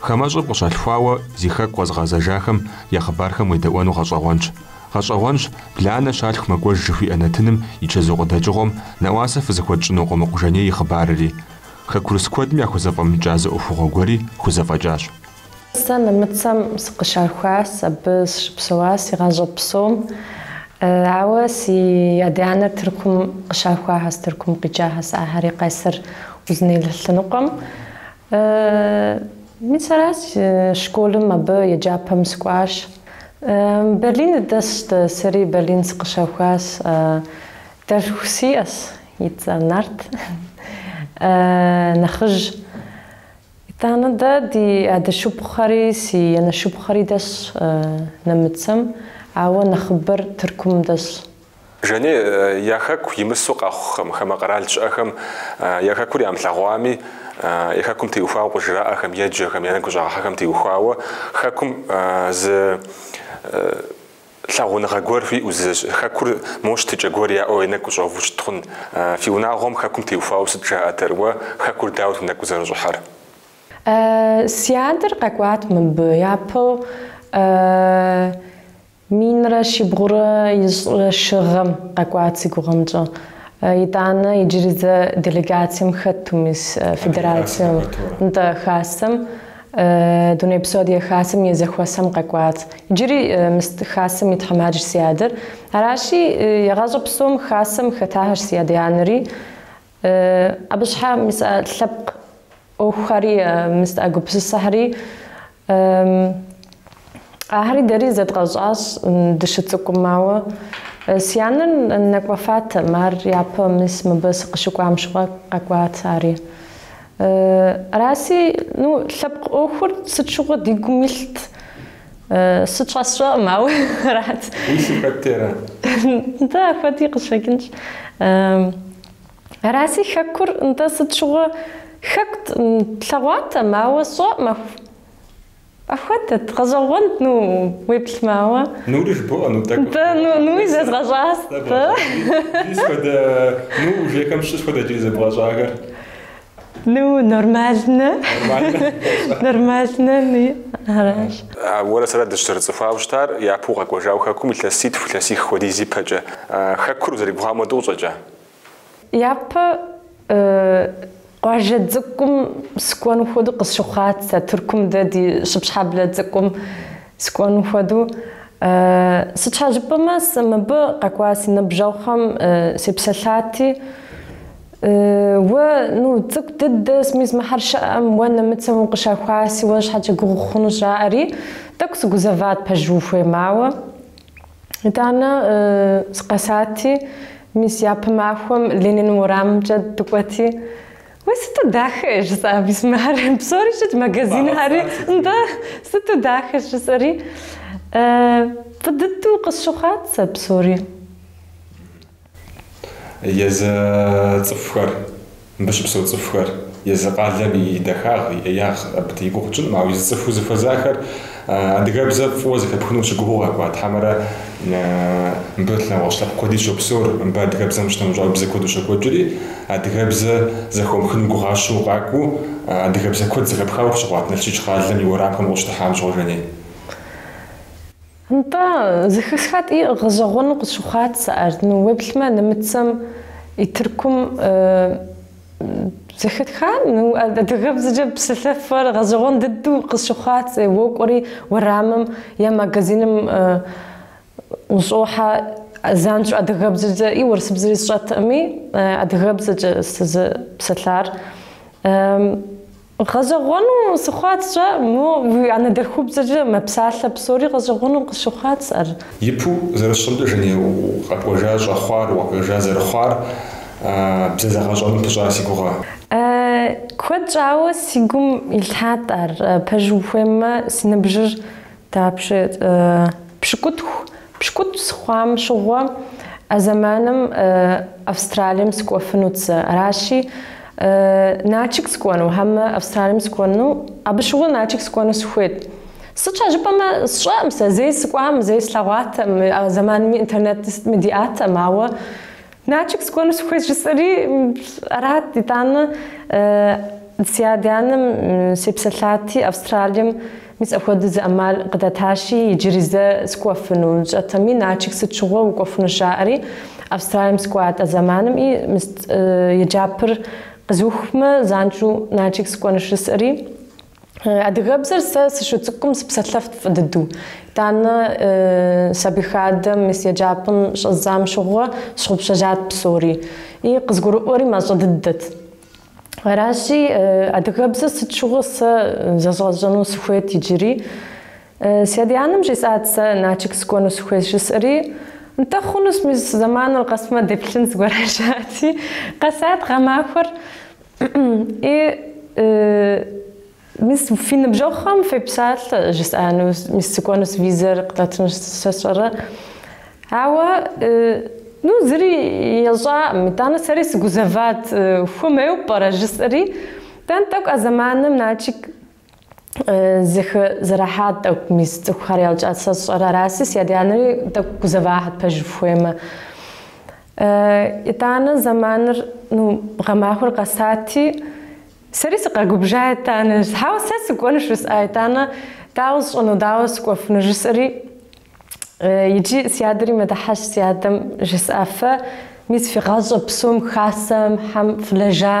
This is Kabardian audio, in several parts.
Хамэщӏыр къыщалъхуауэ зи хэку къэзыгъэзэжахэм я хъыбархэм уедэӏуэну гъэщӏэгъуэнщ. Гъэщӏэгъуэнщ Бланэ щалъху мэкӏуэж жыхуиӏэ нэтыным и чэзу къыдэкӏыгъуэм нэӏуасэ фызыхуэтщӏыну Къумыкъу Жаней и хъыбарри. Хэкурыс куэдым яхузэфӏэмыкӏа зы ӏуэхугъуэ гуэри хузэфӏэкӏащ. Сэ нэмыцэм сыкъыщахуащ, абы сыщыпсэуа си гъащӏэ псом. Ауэ си адэ-анэр Тыркум къыщахуахьэс, Тыркум къикӏахьэс, ахьэри Къесыр Узыней лъэныкъуэм. Мис аращ, школым абы еджапӏэм сыкӏуащ. Берлин дыдэсщ дэ, сэри Берлин сыкъыщэхуащ. Дэлъху сиӏэщ, и цӏэр Нарт, нэхъыжь. Итӏанэ дэ ди адэ шыпхъухэри, си анэ шыпхъухэри дэсщ нэмыцэм, ауэ нэхъыбэр Тыркум дэсщ. Жаней, я Хэку имысу къэхъухэм, хамэ къэрал щыӏэхэм я Хэкур ямылъэгъуами, я Хэкум теухуауэ къыжраӏэхэм, еджэхэм, я нэгу щӏагъэхьэхэм теухуауэ Хэкум зы лъагъуныгъэ гуэр хуиӏэу, зы Хэкур мо щытыкӏэ гуэр яӏэу я нэгу щӏэуву щыт хъун. Фи унагъуэм Хэкум теухуауэ сыт жаӏэтэр? Уэ Хэкур дауэт уи нэгу къызэрыщӏыхьэр? Си адэр къэкӏуат мыбы япэу. Минрэ щибгъурэ ищӏрэ щы гъэм къэкӏуат си гугъэмкӏэ. Итӏанэ иджыри зэ делегацием хэту мис федерацием, нтӏэ, Хасэм, Дунейпсо Адыгэ Хасэм и зэхуэсэм къэкӏуат. Иджыри мис Хасэм и тхьэмадэщ си адэр. Аращи, егъащӏэ псом Хасэм хэтахьэщ си адэ-анэри. Абы щхьэ мис а лъэпкъ ӏуэхухэри, мис а гупсысэхэри, ахэри дэри зэдгъэщӏащ дыщыцӏыкӏум, ауэ си анэр нэкӏуэфатэм, ар япэ мис мыбы сыкъыщыкӏуам щыгъуэ къэкӏуат ари. Араси, ну, лъэпкъ ӏуэхур сыт щыгъуэ ди гум илът. Сыт щхьэ сщӏэӏым, ауэ арат. Уи лъым хэт ара? Нтӏэ, ахуэди къыщӏэкӏынщ. Араси хэкур, нтӏэ, сыт щыгъуэ хэкут, тлъэгъуатэм, ауэ сщӏэӏым, аху. Ахуэдэт, гъэщӏэгъуэнт, ну, уеплъмэ, ауэ. Нури жыбоӏэ, ну, тӏэкӏу. Нтӏэ, ну, нуи зэзгъэщӏащ, нтӏэ. Иджыри сыт хуэдэ, ну, ужехэм щыщ сыт хуэдэ иджыри зэбгъэщӏахэр. Ну, нормально. Нормально, ну, аращ. А уэрэ сэрэ дыщызэрыцӏыхуауэ щытар, япэу укъэкӏуэжауэ хэкум илъэситху, илъэсих хуэдиз ипэкӏэ. Хэкур узэрыгугъам хуэдэу къыщӏэкӏа? Япэ къуажэ цӏыкӏум скӏуэну хуэдэу къысщыхъуат, а Тыркум дэ ди Щыпщхьэблэ цӏыкӏум скӏуэну хуэдэу. Сыт щхьэ жыпӏэмэ, сэ мыбы къэкӏуа си ныбжьэгъухэм сепсэлъати, Уэ, ну, цӏыкӏу дыдэ, мис мыхьэр щыӏэм, уэ нэмыцэм укъыщахуаси, уэ щхьэкӏэ гугъу хъуну жаӏэри, тӏэкӏу сыгузэват пэжу ухуейм, ауэ, итӏанэ, сыкъэсати, мис япэ махуэм Ленин уэрамымкӏэ дыкӏуэти, Уей, сыту дахэ! жысӏа мис мыхьэр. Псори щытт, магазинхьэри, нтӏэ, сыту дахэ! жысӏэри, Фӏы дыдэу къысщыхъуат сэ псори. Езы цӏыхухэр, мыбы щыпсэу цӏыхухэр, езы къалэм и дахагъ, и ӏеягъ абы и гугъу тщӏынкъым, ауэ езы цӏыхуу зыхуэзахэр адыгэбзэ фӏыуэ зэхэпхыну ущыгугъыу къэкӏуат, хьэмэрэ мыбы нэгъуэщӏ лъэпкъ куэди щопсэур, мыбы адыгэбзэм щынэмыщӏауэ бзэ куэду щокӏуэкӏри, адыгэбзэ зэхыумыхыну гугъащэу къакӏуэу адыгэбзэ куэд зэхэпхауэ къыщыхъуат Налшыч къалэм и уэрамхэм къыщыдыхьам щыгъуэ, Жэней. Нтӏэ, зэхэсхати гъэщӏэгъуэну къысщыхъуат сэ ар, ну уеплъмэ нэмыцэм и Тыркум зэхэтха адыгэбзэкӏэ псэлъэфэр гъэщӏэгъуэн дыдэу къысщыхъуат сэ, уокӏуэри уэрамым е магазиным ущӏохьэ занщӏэу адыгэбзэкӏэ и урысыбзэри сщӏэтӏыми, адыгэбзэкӏэ сызыпсэлъар. Гъэщӏэгъуэну сщыхъуат, сщӏэӏым, уи анэдэлъхубзэкӏэ мэпсалъэ псори гъэщӏэгъуэну къысщыхъуат сэ ар. Ипэу зэрысщӏэмкӏэ Жэней, укъэкӏуэжа щӏэхъуар, укъэкӏуэжа зэрыхъуар бзэ зэгъэщӏэным пыщӏа си гугъэ? Куэд щӏауэ си гум илъхьат ар. Пэжу ухуеймэ, си ныбжьыр. Дапщэ пщыкӏутху? Пщыкӏутӏ сыхъуам щыгъуэ а зэманым Австралием сыкӏуэфынут сэ. Аращи, Налшык сыкӏуэну, хьэмэ Австралием сыкӏуэну, абы щыгъуэ Налшык сыкӏуэну сыхуейт. Сыт щхьэ жыпӏэмэ, сщӏэкъым сэ, зэи сыкӏуам, зэи слъэгъуатэм, а зэманми интернетми сытми диӏатэм, ауэ Налшык сыкӏуэну сыхуейт жысӏэри арат. Итӏанэ си адэ-анэм сепсэлъати, Австралием Мис апхуэдэу зы ӏэмал къыдатащи, иджыри зэ сыкӏуэфыну сщӏэтэми, Начик сыт щыгъуэ укӏуэфыну жаӏэри, Австралием сыкӏуат а зэманым и мис еджапӏэр къэзухмэ, занщӏэу Начик сыкӏуэну жысӏэри, Адыгэбзэр сэ сыщыцӏыкӏум сыпсэлъэфт фӏы дыдэу. Итӏанэ сабий хадэм мис еджапӏэм щӏэздзам щыгъуэ сщыгъупщэжат псори. И къызгурыӏуэри мащӏэ дыдэт. Аращи, адыгэбзэр сыт щыгъуэ сэ зэзгъэщӏэну сыхуейт иджыри. Си адэ-анэм жесӏат сэ Начик сыкӏуэну сыхуейт жысӏэри, Нтӏэ, хъунущ, мис зэманыр къэсмэ деплъын зыгуэр жаӏати, къэсат гъэмахуэр. И Мис фи ныбжьэгъухэм фепсалъэ жысӏану, мис сыкӏуэнус визэр къыдатыну сэ сщӏэрэ? Ауэ, ну, зыри ещӏакъым, итӏанэ сэри сыгузэват, хуэмейуэ пӏэрэ жысӏэри, итӏанэ тӏэкӏу а зэманым Налшык зэхэзэрыхьа тӏэкӏу мис цӏыхухэр яукӏат, сэ сщӏэрэ араси, си адэ-анэри тӏэкӏу гузэвахьэт пэжыр фхуеймэ. Итӏанэ зэманыр, ну, гъэмахуэр къэсати, Сэри сыкъэгубжа етӏанэ, хьэуэ сэ сыкӏуэнуш жысӏа етӏанэ, дауэ сщӏэну, дауэ скӏуэфыну жысӏэри, иджы си адэри мэдыхьэшх си адэм жысӏа, фэ, мис фи гъащӏэ псом хасэхьэм фылэжа,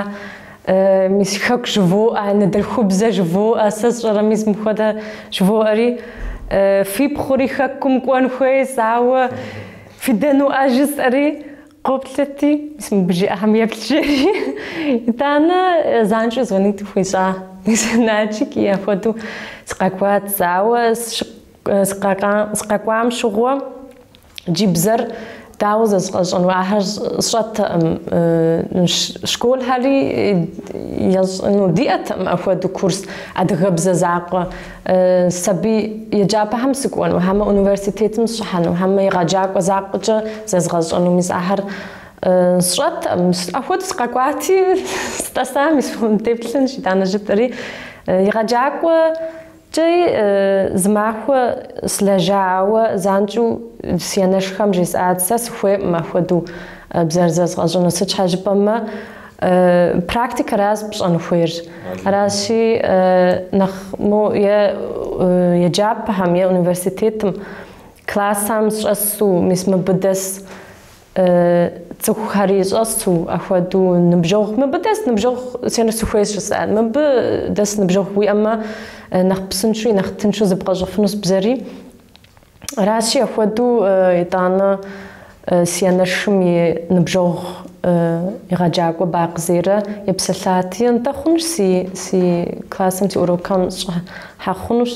мис хэку жывоӏэ, анэдэлъхубзэ жывоӏэ, сэ сщӏэрэ мис мыхуэдэ жывоӏэри, фи пхъури хэкум кӏуэн хуейс, ауэ фдэнуӏэ жысӏэри, Къоплъэти, мис мыбы жиӏэхэм еплъ, жери. Итӏанэ занщӏэу звонит хуищӏа мис Налшык, и ахуэдэу сыкъэкӏуат, ауэ сыкъэкӏуам щыгъуэ ди бзэр дауэ зэзгъэщӏэну ахэр сщӏэтэкъым. Школхэри ещӏыну диӏэтэкъым апхуэдэу курс, адыгэбзэ закъуэ. Сабий еджапӏэхэм сыкӏуэну, хьэмэ университетым сщӏыхьэну, хьэмэ егъэджакӏуэ закъуэкӏэ зэзгъэщӏэну мис ахэр сщӏэтэкъым. Апхуэдэу сыкъэкӏуати, стӏэса мис фхуэмыдеплъынщ, итӏанэ жытӏэри. Егъэджакӏуэкӏэи зы махуэ слэжа, ауэ занщӏэу си анэшхэм жесӏат, сэ сыхуейкъым апхуэдэу бзэр зэзгъэщӏэну, сыт щхьэ жыпӏэмэ, Практикэращ пщӏэн хуейр. Аращи, нэхъ мо е еджапӏэхэм, е университетым классам сщӏэсу, мис мыбы дэс цӏыхухэри щӏэсу, ахуэдэу ныбжьэгъу, мыбы дэс ныбжьэгъу сиӏэну сыхуейщ жысӏат. Мыбы дэс ныбжьэгъу уиӏэмэ, нэхъ псынщӏэуи, нэхъ тыншу зэбгъэщӏэфынус бзэри. Аращи, апхуэдэу итӏанэ си анэшым и ныбжьэгъу егъэджакӏуэ Бакъ Зерэ епсэлъати, Нтӏэ хъунущ си си классым си урокхэм щӏыхьэ хъунущ,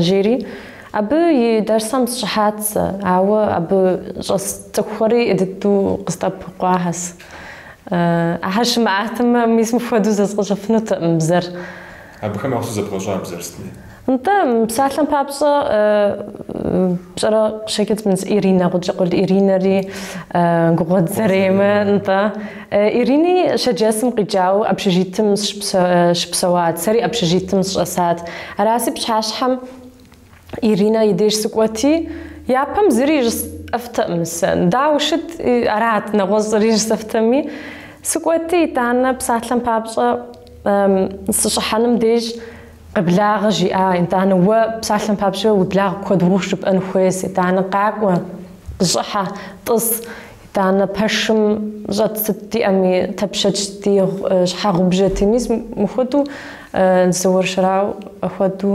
жери. Абы и дэрсхэм сщӏыхьат сэ, ауэ абы щӏэс цӏыхухэри дыдэу къыздэӏэпыкъуахэс. Ахэр щымыӏатэмэ, мис мыпхуэдэу зэзгъэщӏэфынутэкъым бзэр. Абыхэм уахэсу зэбгъэщӏа бзэр сытми. Нтӏэ, мы псалъэм папщӏэ, пщӏэрэ, щекӏыц мынс Иринэ, Гъукӏэкъул Иринэри Гугъуэт Заремэ, нтӏэ. Ирини Шэрджэсым къикӏауэ общежитым щыпсэуат, сэри общежитым сщӏэсат. Араси пщыхьэщхьэм. Иринэ и деж сыкӏуэти, япэм зыри жысӏэфтэкъым сэ. Дауэ шыт, арат нэгъуэщӏри жысӏэфтэми. Сыкӏуэти, итӏанэ, псалъэм папщӏэ, сыщӏыхьэным деж къыблагъэ жиӏэ, итӏанэ, уэ, псалъэм папщӏэ, уи благъ куэд ухъу жыпӏэн хуейс, итӏанэ, къакӏуэ, къыщӏыхьэ, тӏыс, итӏанэ, пэшым щӏэт сытдиӏэми тапчанти, щхьэгъубжэти, мис мыхуэдэу, зыуэршэрау хуэдэу.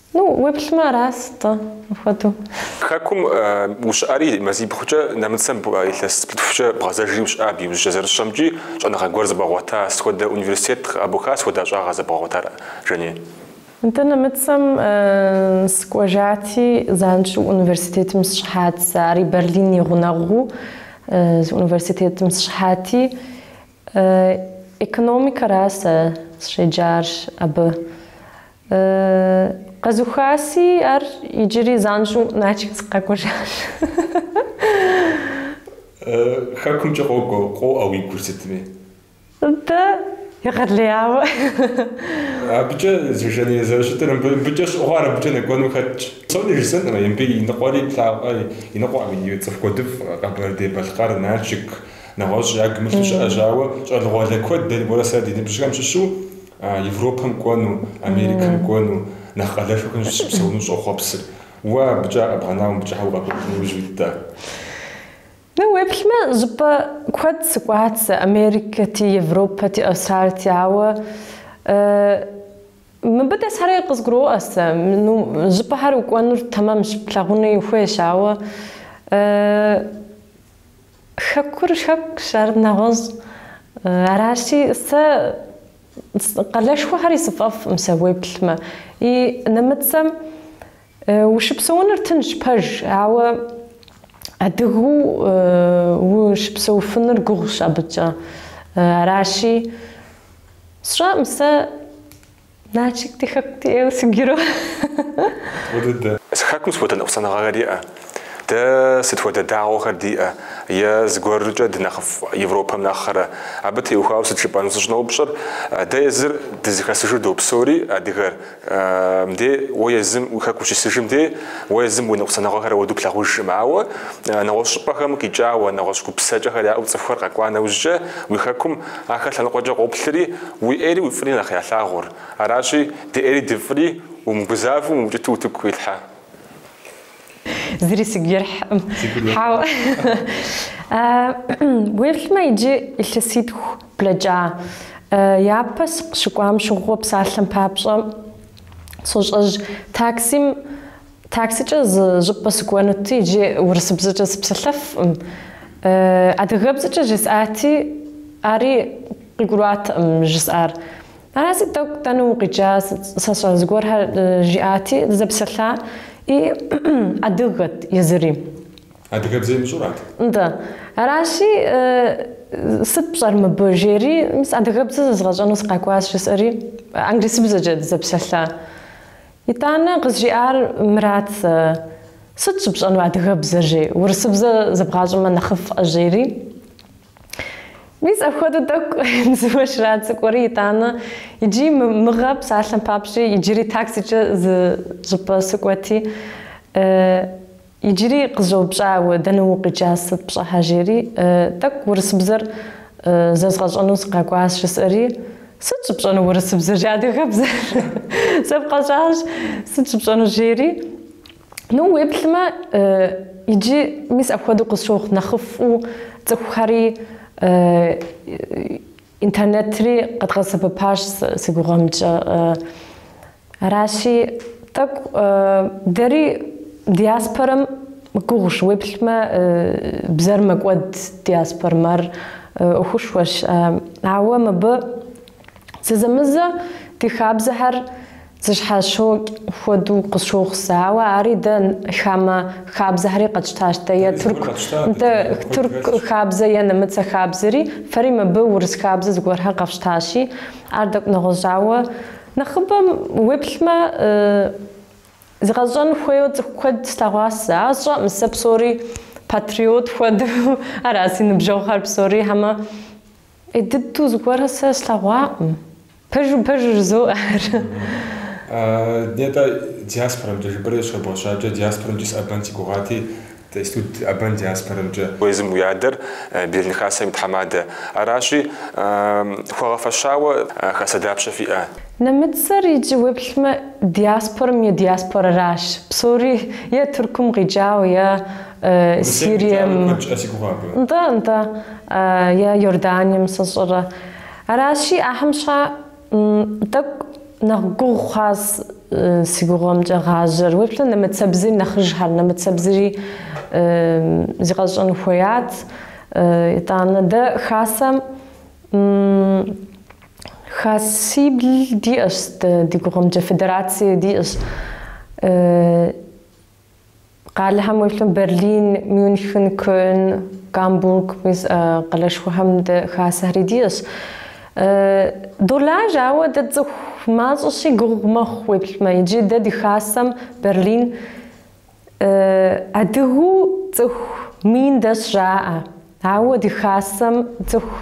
Ну, уеплъмэ арас-тӏэ, апхуэдэу. Хэкум ущыӏэри, мазибгъукӏэ нэмыцэм илъэс плӏытхукӏэ бгъэзэжри ущыӏа абы иужькӏэ зэрысщэмкӏи, щӏэныгъэ гуэр зэбгъэгъуэта сыхуэдэ университет къэбуха сыхуэдэ ӏэщӏагъэ зэбгъэгъуэтар, Жаней? Нтӏэ, нэмыцэм сыкӏуэжати, занщӏэу университетым сщӏыхьат, сэ ари Берлин и гъунэгъуу зы университетым сщӏыхьати, Экономикэра сэ сщеджар абы. Къэзухаси, ар иджыри занщӏэу Налшык сыкъэкӏуэжащ. Хэкумкӏэ къокӏуэ, къоӏэ уи гур сытми. Дэ егъэлеяуэ. Абыкӏэ зыжэней зэрыщытыр, мыбыкӏэ щыгугъауэ абыкӏэ нэкӏуэну хэтт. Псори жысӏэнкъым, мыбы и ныкъуэри лъэкӏамэ, и ныкъуэкъым, и цӏыху куэдыфӏ, Къэбэрдей-Балъкъэр, Налшык, Нэгъуэщӏ ягу илъу щыщӏэщ, ауэ щӏалэгъуалэ куэд дэ уэрэ сэрэ ди ныбжьхэм щыщу Европэм кӏуэну, Америкэм кӏуэну, нэхъ къалэшхэхэм щыпсэуну щӏохъуэпсыр. Уэ абыкӏэ къэбгъэнауэ мыбыкӏэ сыт щхьэ укъэкӏуэжа, Жаней? Ну, уеплъмэ, щӏыпӏэ куэд сыкӏуат сэ, Америкэти, Европэти, Австралти, ауэ мыбы дэсхьэри къызгурыӏуэркъым сэ. Ну, щӏыпӏэхэр укӏуэнур тэмэмщ, плъагъуни хуейщ, ауэ Хэкур хэкущ, ар нэгъуэщӏ. Аращи, сэ къалэшхуэхэри сфӏэфӏӏым сэ уеплъмэ. Икӏи нэмыцэм ущыпсэуныр тынщ, пэж, ауэ адыгэу ущыпсэуфынур гугъущ абыкӏэ. Аращи, сщӏэӏым сэ Налшык ди хэку диӏэу сыкӏуэру. Одыдэ. Си хэкум сыт хуэдэ ныкъусаныгъэхэр иӏэ? Дэ сыт хуэдэ дагъуэхэр диӏэ? Е зыгуэркӏэ дынэхъыфӏ Европэм нэхърэ? Абы теухуауэ сыт жыпӏэну сыщӏыноупщӏыр. Дэ езыр дызэхэсыжу допсори, адыгэр, дэ, уэ езым уи хэку ущисыжым деж, уэ езым уи ныкъусаныгъэхэр апхуэду плъагъужкъым. Ауэ нэгъуэщӏ щӏыпӏэхэм къикӏауэ, нэгъуэщӏ гупсэкӏэхэр яӏэу цӏыхухэр къэкӏуа нэужькӏэ, уи хэкум Ахэр лъэныкъуэкӏэ къоплъри, уи ӏейри уи фӏыри нэхъ ялъагъур. Аращи, ди ӏейри ди фӏыри умыгузавэу, умыукӏыту утыку къилъхьэ. Зыри сигу ирихькъым. Хьэуэ. Уеплъмэ, иджы илъэситху блэкӏа. Япэ сыкъыщыкӏуам щыгъуэ псалъэм папщӏэ сощӏэжь таксим Таксикӏэ зы щӏыпӏэ сыкӏуэнути иджы урысыбзэкӏэ сыпсэлъэфкъым. Адыгэбзэкӏэ жысӏати, ари къыгурыӏуатэкъым жысӏар. Араси тӏэкӏу дэнэ укъикӏа, сэ сщӏэрэ зыгуэрхэр жиӏати, дызэпсэлъа и адыгэт езыри. Адыгэбзэ имыщӏурат? Нтӏэ. Аращи, сыт пщӏэр мыбы, жери, мис адыгэбзэ зэзгъэщӏэну сыкъэкӏуащ жысӏэри, англисыбзэкӏэ дызэпсэлъа Итӏанэ къызжиӏар мырат, сэ. Сыт щыпщӏэну адыгэбзэр жи, урысыбзэ зэбгъащӏэмэ нэхъыфӏкъэ жери? Мис апхуэдэу тӏэкӏу дзыуэ щрацӏыкӏуэри, итӏанэ иджи мыгъэ псалъэм папщӏи иджыри таксикӏэ зы щӏыпӏэ сыкӏуэти, Иджыри къызэупщӏауэ, дэнэ укъикӏа, сыт пщӏыхьэ, жери, тӏэкӏу урысыбзэр зэзгъэщӏэну сыкъэкӏуащ, жысӏэри, сыт щыпщӏэну урысыбзэр жи, адыгэбзэр зэбгъэщӏащ, сыт щыпщӏэну, жери, ну, уеплъмэ, иджы, мис апхуэдэу къысщохъу, нэхъыфӏу цӏыхухэри интернетри къэдгъэсэбэпащ, сэ си гугъэмкӏэ. Аращи, тӏэкӏу дэри диаспорэм гугъущ, уеплъмэ, бзэр мэкӏуэд диаспорэм, ар ӏуэхушхуэщ. Ауэ мыбы зэзэмызэ ди хабзэхэр зыщхьэщокӏ хуэдэу къысщохъу сэ. Ауэ ари дэ хамэ хабзэхэри къэтщтащ, дэ е тырку, нтӏэ, тырку хабзэ е нэмыцэ хабзэри, фэри мыбы урыс хабзэ зыгуэрхэр къэфщтащи, ар тӏэкӏу нэгъуэщӏ, ауэ Нэхъыбэм уеплъмэ, зэзыгъэщӏэн хуейуэ цӏыху куэд слъэгъуас сэ. Ар сщӏэкъым сэ псори патриот хуэдэу, ара си ныбжьэгъухэр псори, хьэмэ ӏей дыдэу зыгуэрхэр сэ слъэгъуакъым. Пэжу, пэжу жызоӏэ ар. Нтӏэ, диаспорэм дежи бэрэ зыщыбгъэщакӏэ, диаспорэмкӏи сыӏэбэн си гугъати, Иджыпсту дыӏэбэн диаспорэмкӏэ. Уэ езым уи адэр Берлин Хасэм и тхьэмадэ аращи, хуэгъэфэщауэ Хасэ дапщэ фиӏэ? Нэмыцэр иджы уеплъмэ диаспорэм е диаспорэращ, псори е Тыркум къикӏауэ, е Сирием. Нтӏэ, нтӏэ, е Иорданием сэ сщӏэрэ. Аращи, ахэм щхьа. Тӏэкӏу нэхъ гугъу хъуас си гугъэмкӏэ гъажьэр. Уеплъу нэмыцэбзэри нэхъыжьхэр, нэмыцэбзэри зригъэщӏэн хуеят. Итӏанэ дэ хасэм хасибл диӏэщ, ди гугъэмкӏэ федерацие диӏэщ. Къалэхэм уеплъым Берлин, Мюнхен, Кёльн, Гамбург, мис къалэшхуэхэм дэ хасэхэри диӏэщ. Долажь, ауэ дэ цӏыху мащӏэщи гугъу мэхъу уеплъмэ. Иджы дэ ди хасэм Берлин адыгэу цӏыху мин дэс жаӏэ. Ауэ ди хасэм цӏыху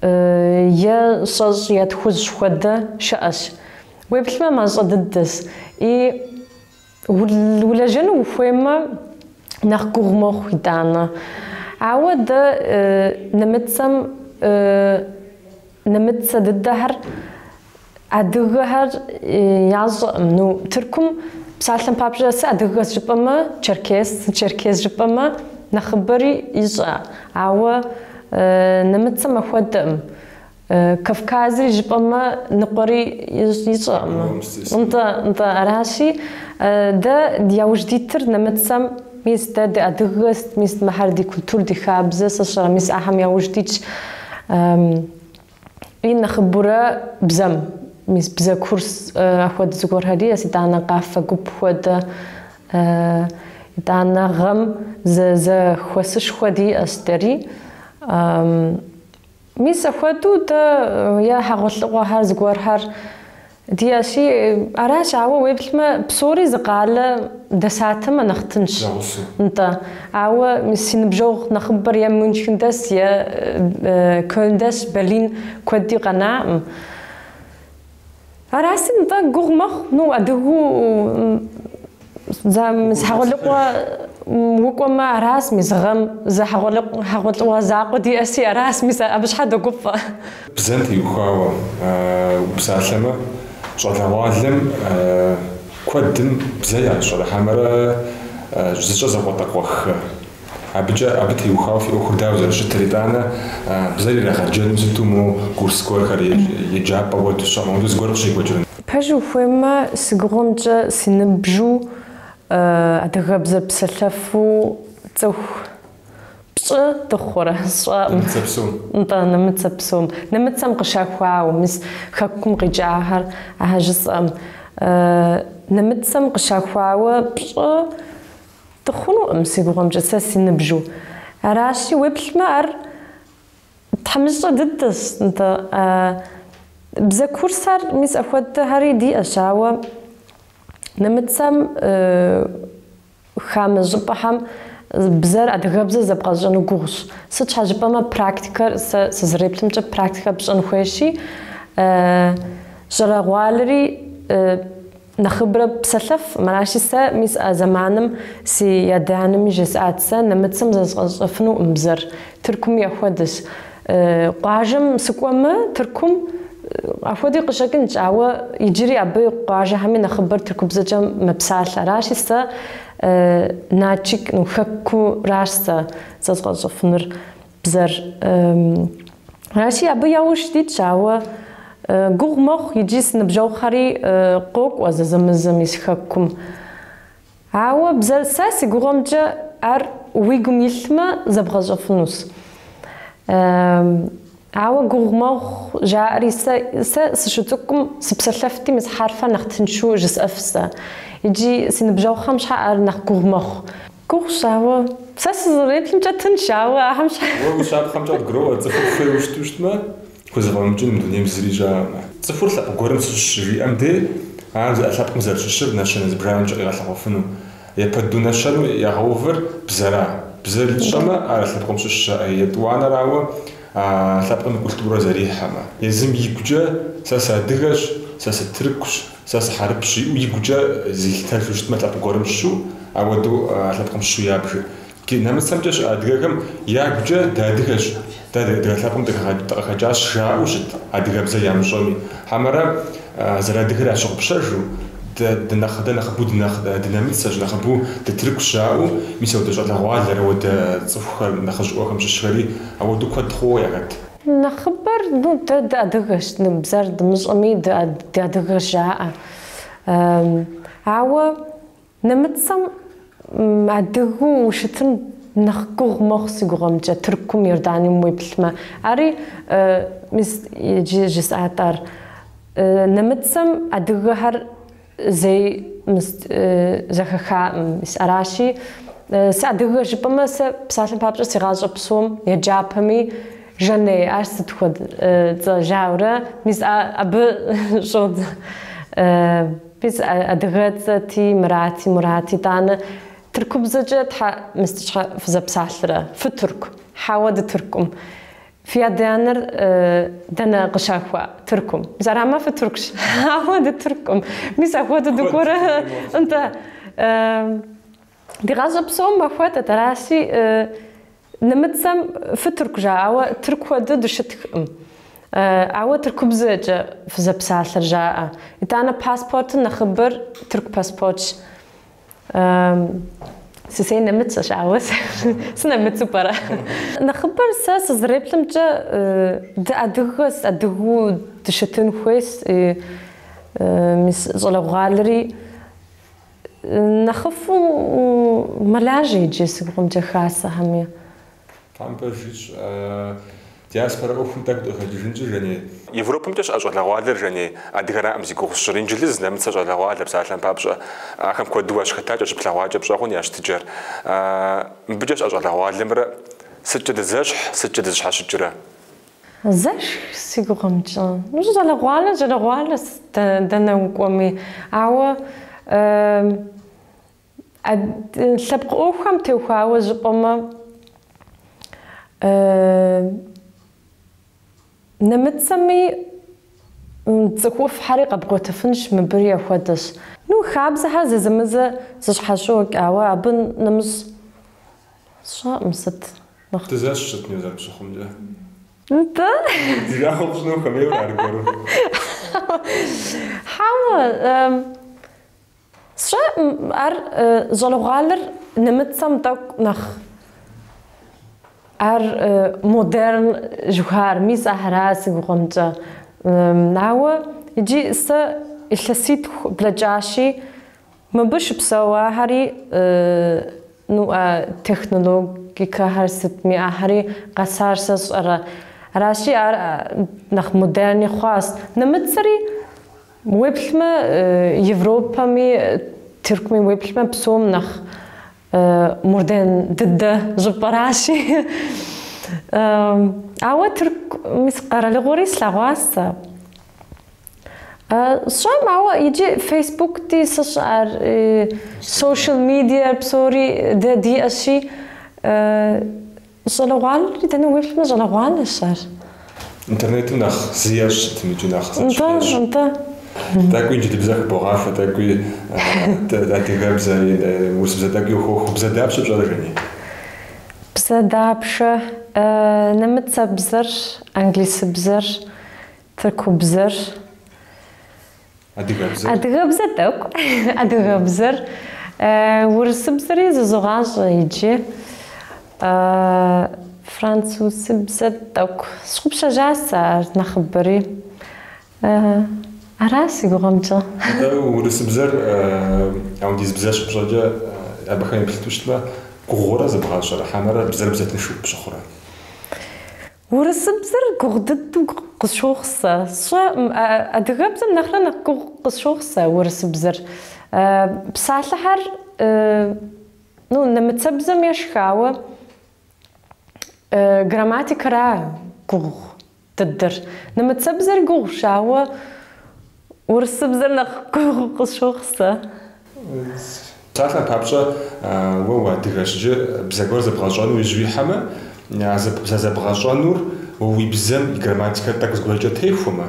е щэщӏ е тхущӏ хуэдэ щыӏэщ. Уеплъмэ мащӏэ дыдэщ. И Улэжьэну ухуеймэ, нэхъ гугъу мэхъу, итӏанэ. Ауэ дэ нэмыцэм нэмыцэ дыдэхэр, адыгэхэр ящӏэкъым. Ну, Тыркум псалъэм папщӏэ, сыадыгэщ жыпӏэмэ, черкес, сэ черкес жыпӏэмэ, нэхъыбэри ищӏэ. Ауэ нэмыцэм ахуэдэкъым. Кавказри жыпӏэмэ, ныкъуэри ищӏэкъым. Нтӏэ, нтӏэ, аращи, дэ яужь дитыр нэмыцэм, мис, дэ ди адыгэ сыт, мис мыхэр ди культур, ди хабзэ сщӏэрэ, мис ахэм яужь дитщ, и нэхъыбурэ бзэм, мис бзэ курс ахуэдэ зыгуэрхэр диӏэс, итӏанэ къафэ гуп хуэдэ, итӏанэ гъэм зэ, зэхуэсышхуэ диӏэщ дэри. Мис ахуэдэу дэ е хьэгъуэлӏыгъуэхэр зыгуэрхэр диӏэщи, аращ, ауэ уеплъмэ, псори зы къалэ дэсатэмэ нэхъ тынщ. Зэгъусэу. Нтӏэ. Ауэ мис си ныбжьэгъу нэхъыбэр е Мюнхен дэс, е Кёльн дэс, Берлин куэди къэнаӏым. Араси, нтӏэ, гугъу мэхъу, ну, адыгу за мис хьэгъуэлӏыгъуэ укӏуэмэ, арас, мис гъэм зы хьэгъуэлӏыгъуэ закъуэ диӏэси, арас, мис абы щхьэ догуфӏэ. Бзэм теухуауэ упсалъэмэ, щӏалэгъуалэм куэдым бзэ ящӏэрэ хьэмэрэ зыщӏэр закъуэтӏакъуэххэ? Абыкӏэ абы теухуауэ фи ӏуэхур дауэ зэрыщытыр, итӏанэ бзэр ирагъэджэну сыту моуэ курс гуэрхэр, еджапӏэ уэ дыщэкъым, абы зыгуэр къыщекӏуэкӏрэ? Пэжу ухуеймэ, си гугъэмкӏэ си ныбжьу адыгэбзэ псэлъэфу цӏыху пщӏы дыхъурэ сщӏэӏым. Нэмыцэ псом. Нтӏэ, нэмыцэ псом. Нэмыцэм къыщалъхуауэ, мис хэкум къикӏахэр ахэр жысӏэӏым. Нэмыцэм къыщалъхуауэ пщӏы Дыхъунукъым, си гугъэмкӏэ, сэ си ныбжьу. Аращи, уеплъмэ, ар тхьэмыщкӏэ дыдэщ, нтӏэ. Бзэ курсхэр мис ахуэдэхэри диӏэщ, ауэ нэмыцэм хамэ щӏыпӏэхэм бзэр, адыгэбзэр зэбгъэщӏэну гугъущ. Сыт щхьэ жыпӏэмэ, практикэр, сэ сызэреплъымкӏэ, практикэр пщӏэн хуейщи, щӏалэгъуалэри, Нэхъыбрэ псэлъэф, мыращи, сэ мис а зэманым си адэ-анэми жесӏат, сэ нэмыцэм зэзгъэщӏэфынукъым бзэр, Тыркуми ахуэдэщ. Къуажэм сыкӏуэмэ, Тыркум ахуэдэуи къыщӏэкӏынщ, ауэ иджыри абы къуажэхэми нэхъыбэр тыркубзэкӏэ мэпсалъэ. Аращи, сэ Начик, ну, Хэкуращ сэ зэзгъэщӏэфынур. Бзэр. Аращи, абы яужь дитщ, ауэ гугъу мэхъу иджы си ныбжьэгъухэри къокӏуэ зэзэмызэ мис Хэкум. Ауэ бзэр, сэ си гугъэмкӏэ ар уи гум илъмэ, зэбгъэщӏэфынущ. Ауэ гугъу мэхъу жаӏэри, сэ, сэ сыщыцӏыкӏум сыпсэлъэфти, мис хьэрфэр нэхъ тыншу жысӏэф сэ. Иджы си ныбжьэгъухэм щхьэ ар нэхъ гугъу мэхъу. Гугъущ, ауэ сэ сызэреплъымкӏэ тынш, ауэ ахэм щ. Уэ уи щапхъэмкӏэ къыбгуроӏуэр, цӏыхур хуейуэ щыту щытмэ, хузэфӏэмыкӏын мы дунейм зыри щыӏэкъым. Цӏыхур лъэпкъ гуэрым сыщыщщ жиӏэм де, ар зыӏэ лъэпкъым зэрыщыщыр нэщэнэ зыбжанэмкӏэ къигъэлъэгъуэфыну. Япэ дыдэу нэщэнэу ягъэувыр бзэра. Бзэр ищӏэмэ, ар а лъэпкъым щыщщ, етӏуанэрауэ, а лъэпкъым и культурэ зэрихьэмэ. Езым игукӏэ, сэ сыадыгэщ, сэ сытыркущ. Сэ сыхьэрыпщ, жиӏэу игукӏэ зилъытэжу щытмэ лъэпкъ гуэрым щыщу, ауэдэу а лъэпкъым щыщу ябж. Ди нэмыцэмкӏэ щыӏэ адыгэхэм ягукӏэ дыадыгэщ, дэ адыгэ лъэпкъым дыкъыхэкӏащ жаӏэу щыт адыгэбзэ ямыщӏэми. Хьэмэрэ зэрыадыгэр ящыгъупщэжу, дэ дэ нэхъыбэу дынэмыцэщ, нэхъыбэу дытыркущ жаӏэу, мис ауэдэ щӏалэгъуалэрэ ауэдэ цӏыхухэр нэхъыжьыӏуэхэм щыщхэри ауэдэу куэд хъууэ яхэт. Нэхъыбэр, ну, дэ дыадыгэщ, ну, бзэр дымыщӏэми, дэ дыадыгэщ жаӏэ. Ауэ нэмыцэм адыгэу ущытын нэхъ гугъу мэхъу си гугъэмкӏэ, Тыркум, Иорданием уеплъмэ. Ари, мис иджы жысӏат ар, нэмыцэм адыгэхэр, Зэи мыст зэхахаӏым. Мис аращи, сыадыгэщ жыпӏэмэ, сэ псалъэм папщӏэ си гъащӏэ псом, еджапэми, Жаней, ар сыт хуэд цӏэ? жаурэ, мис а абы щӏодз мис адыгэ цӏэти, Мырати, Мурат, итӏанэ тыркубзэкӏэ тхьэ мыст щхьэ фызэпсалърэ? Фытырк, хьэуэ дытырккъым. Фи адэ-анэр дэнэ къыщалъхуа? Тыркум. Мис арамэ фытыркщ. Хьэуэ, дытырккъым. Мис ахуэдэу дыкӏуэрэ? Нтӏэ. Ди гъащӏэ псом ахуэдэт. Аращи, нэмыцэм фытырк жаӏэ, ауэ тырк хуэдэу дыщыткъым. Ауэ тыркубзэкӏэ фызэпсалъэр жаӏэ. Итӏанэ паспортым нэхъыбэр тырку паспортщ. Сысей нэмыцэщ, ауэ сынэмыцу пӏэрэ. Нэхъыбэр сэ сызреплъымкӏэ дыадыгэс, адыгу дыщытын хуейс, мис щӏалэгъуалэри нэхъыфӏу мэлажьэ иджы си гугъэмкӏэ хасэхэми. Там пэжщ диаспорэ ӏуэхум тӏэкӏу дыкъыхэкӏыжынщ, Жаней. Европэмкӏэ щыӏэ щӏалэгъуалэр, Жаней, адыгэраӏэм зи гугъу сщӏыр инджылыз, нэмыцэ щӏалэгъуалэ, псалъэм папщӏэ, ахэм куэду уащыхэтакӏэ щыплъэгъуакӏэ пщӏэгъун я щытыкӏэр. Мыбыкӏэ щыӏэ щӏалэгъуалэмрэ сыткӏэ дызэщхь, сыткӏэ дызэщхьэщыкӏрэ? Зэщхь, си гугъэмкӏэ. Мыщӏэ щӏалэгъуалэр щӏалэгъуалэщ дэнэ укӏуэми, ауэ Лъэпкъ ӏуэхухэм теухуауэ жыпӏэмэ, нэмыцэми цӏыхуфӏхэри къэбгъуэтыфынщ, мыбыри ахуэдэщ. Ну, хабзэхэр зэзэмызэ зэщхьэщокӏ, ауэ абы нэмыщӏ сщӏэкъым сыт нэхъ. Дызэщхьщ сытми уэ зэрыпщыхъумкӏэ. Нтӏэ? Ди жагъуэ пщӏыну ухуэмейуэ аргуэру? Хьэуэ, Сщӏэ ар щӏалэгъуалэр нэмыцэм тӏэкӏу нэхъ ар модерн жыхуаӏэр, мис ахэра си гугъэмкӏэ. Ауэ иджи сэ илъэситху блэкӏащи, мыбы щыпсэуахэри, ну а технологикэхэр сытми ахэри къэсар сэ сщӏэрэ. Аращи ар нэхъ модерни хъуащ. Нэмыцэри. Уеплъмэ, Европэми Тыркуми уеплъмэ, псом нэхъ модерн дыдэ щӏыпӏэращи. Ауэ Тырку мис къэралыгъуэри слъэгъуащ сэ. Сщӏэкъым, ауэ иджы фейсбукти сщӏэ ар, сошиал медиар псори дэ диӏэщи, Щӏалэгъуалэри дэнэ уеплъмэ, щӏалэгъуалэщ ар. Интернетым нэхъ зы ещӏ сытми икӏи нэхъ зэщхь Нтӏэ, ещӏ. нтӏэ. Тӏэкӏуи инджылыбзэ хыбогъахуэ, тӏэкӏуи адыгэбзэ, урысыбзэ тӏэкӏуи ухуохуэ. Бзэ дапщэ пщӏэрэ Жени? Бзэ дапщэ? Нэмыцэбзэр, англисыбзэр, тыркубзэр, Адыгэбзэр? Адыгэбзэ тӏэкӏу. Адыгэбзэр. Урысыбзэри зызогъащӏэ иджы. Французыбзэ тӏэкӏу. Сщыгъупщэжа сэ ар нэхъыбэри. Ара си гугъэмкӏэ. Урысыбзэр апхуэдиз бзэ щыпщӏэкӏэ абыхэм еплъыту щытмэ, гугъурэ зэбгъащӏэрэ хьэмэрэ бзэр бзэ тыншу пщыхъурэ? Урысыбзэр гугъу дыдэу къысщохъу сэ. Сщӏэ, адыгэбзэм нэхърэ нэхъ гугъу къысщохъу сэ урысыбзэр. Псалъэхэр, ну, нэмыцэбзэм ещхьщ, ауэ, грамматикэра гугъу дыдэр. Нэмыцэбзэри гугъущ, ауэ. Урысыбзэр нэхъ гугъу къысщохъу сэ. Псалъэм папщӏэ, уэ уадыгэщ иджы, бзэ гуэр зэбгъэщӏэну иужь уихьэмэ, а бзэ зэбгъэщӏэнур уэ уи бзэм и грамматикэр тӏэкӏу зыгуэркӏэ техуэмэ,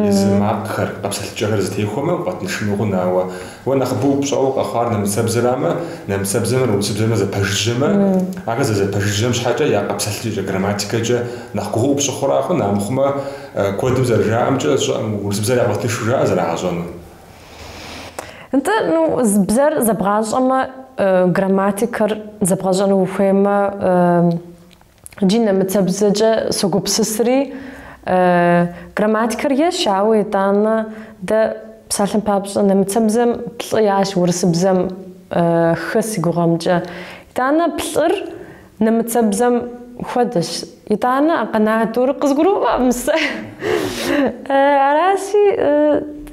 езы макъхэр, къэпсэлъыкӏэхэр зытехуэмэ, укъэтыншыну хъун, ауэ уэ нэхъыбэу пщӏэуэ къэхъуар нэмыцэбзэрамэ, нэмыцэбзэмрэ урысыбзэмрэ зэпэжыжьэмэ, ахэр зэрызэпэжыжьэм щхьэкӏэ я къэпсэлъыкӏэкӏэ, грамматикэкӏэ нэхъ гугъуу пщыхъура хъун, амыхъумэ, Куэдым зэрыжаӏэмкӏэ, щӏыӏэм урысыбзэр ягъэтыншу жаӏэ зэрагъэщӏэну. Нтӏэ, ну, бзэр зэбгъащӏэмэ, грамматикэр зэбгъэщӏэну ухуеймэ, джи нэмыцэбзэкӏэ согупсысри, грамматикэр ещхьщ, ауэ итӏанэ дэ, псалъэм папщӏэ, нэмыцэбзэм плӏы иӏэщ урысыбзэм хы си гугъэмкӏэ. Итӏанэ плӏыр. Нэмыцэбзэм хуэдэщ. Итӏанэ а къэна тӏур къызгурыӏуэкъым сэ. Аращи,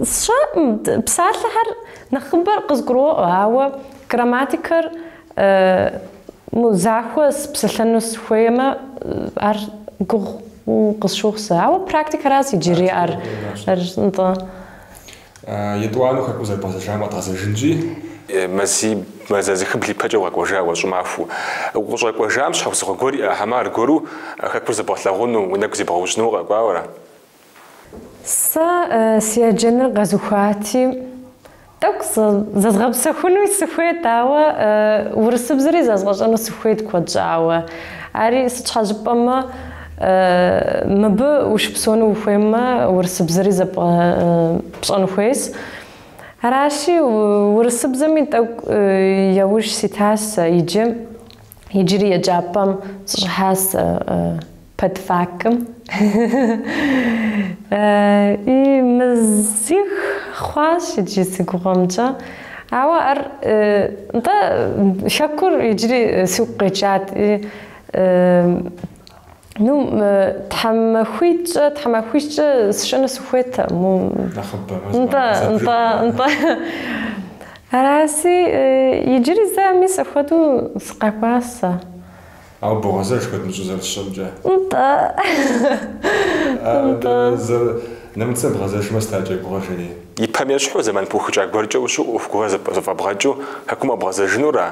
сщӏэкъым, псалъэхэр нэхъыбэр къызгуроӏуэ, ауэ грамматикэр захуэу сыпсэлъэну схуеймэ, ар гугъу къысщохъу сэ. Ауэ практикэращ иджыри ар, нтӏэ. Етӏуанэу хэкум зэрыбгъэзэжам къэдгъэзэжынщи. Мази, мазэ зыхыбл ипэкӏэ укъэкӏуэжа уэ, щӏымахуэу. Укъыщӏэкӏуэжам щхьэусыгъуэ гуэр иӏэ, хьэмэ аргуэру хэкур зэбгъэлъагъуну, уи нэгу зебгъэужьыну укъэкӏуауэра? Сэ си еджэныр къэзухуати, тӏэкӏу зэзгъэпсэхунуи сыхуейт, ауэ урысыбзэри зэзгъэщӏэну сыхуейт куэд щӏауэ. Ари сыт щхьэ жыпӏэмэ. Мыбы ущыпсэуну ухуеймэ, урысыбзэри зэб, пщӏэн хуейщ. Аращи, урысыбзэми тӏэкӏу яужь ситащ сэ иджы. Иджыри еджапӏэм сыщӏыхьащ сэ пэдфакым. И мазих хъуащ иджы си гугъэмкӏэ. Ауэ ар, нтӏэ, хэкур иджыри сигу къэкӏат. Ну, тхьэмахуитӏкӏэ, тхьэмахуищкӏэ сыщыӏэну сыхуейт, му. Нэхъыбэмэ. Нтӏэ, нтӏэ, нтӏэ. Араси, иджыри зэ ами сэ хуэдэу сыкъэкӏуащ сэ. Ауэ богъэзэж куэд мыщӏэу зэрысщӏэмкӏэ. Нтӏэ. Нтӏэ. Нэмыцэ бгъэзэжмэ сыт адэкӏэ уи гугъэ? Иджыри ипэм ещхьу, зэман пыухыкӏа гуэркӏэ ущыӏэу ӏуэху гуэрхэр зэфӏэбгъэкӏыу хэкум къэбгъэзэжынура?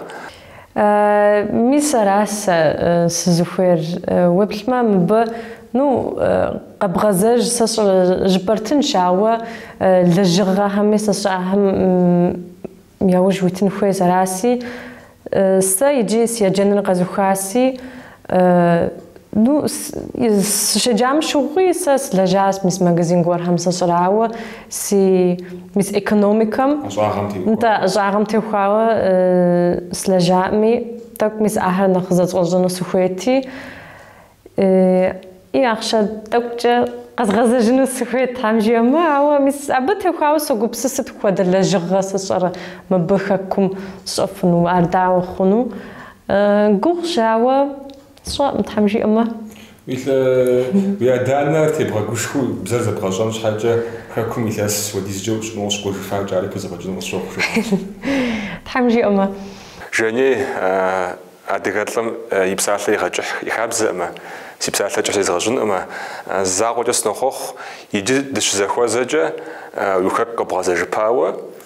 Мис ара сэ сызыхуейр? Уеплъмэ, мыбы, ну, къэбгъэзэж, сэ сщӏэ, жыпӏэр тыншщ, ауэ лэжьыгъэхэми сэ сщӏэ, ахэм яужь уитын хуейщ. Араси, сэ иджы си еджэныр къэзухаси, Ну, сыщеджам щыгъуи сэ слэжьащ мис магазин гуэрхэм сэ сщӏэрэ, ауэ, си мис экономикэм, нтӏэ, ӏэщӏагъэм техуауэ слэжьаӏми, тӏэкӏу мис ахэр нэхъ зэзгъэщӏэну сыхуейти, и ахъшэ тӏэкӏукӏэ къэзгъэзэжыну сыхуейт, Тхьэм жиӏэмэ, ауэ мис абы техуауэ согупсыс сыт хуэдэ лэжьыгъэ сэ сщӏэрэ мыбы Хэкум сщӏэфыну, ар дауэ хъуну. Гугъущ, ауэ сщӏэкъым, Тхьэм жиӏэмэ. Уи лӏы, уи адэ-анэ тебгъэгушхуэу бзэр зэбгъэщӏэн щхьэкӏэ, Хэкум илъэс хуэдизкӏэ ущыӏэну укъыщыкӏуэжыфакӏэ, ари пхузэфӏэкӏыну къысщохъу, жаӏащ. Тхьэм жиӏэмэ. Жаней, адыгэ лӏым и псалъэ игъэкӏыхь и хабзэӏымэ, си псалъэ кӏыхь езгъэщӏынӏымэ, закъуэкӏэ сынохъуэхъу, иджы дыщызэхуэзэкӏэ, уи Хэку къэбгъэзэжыпауэ,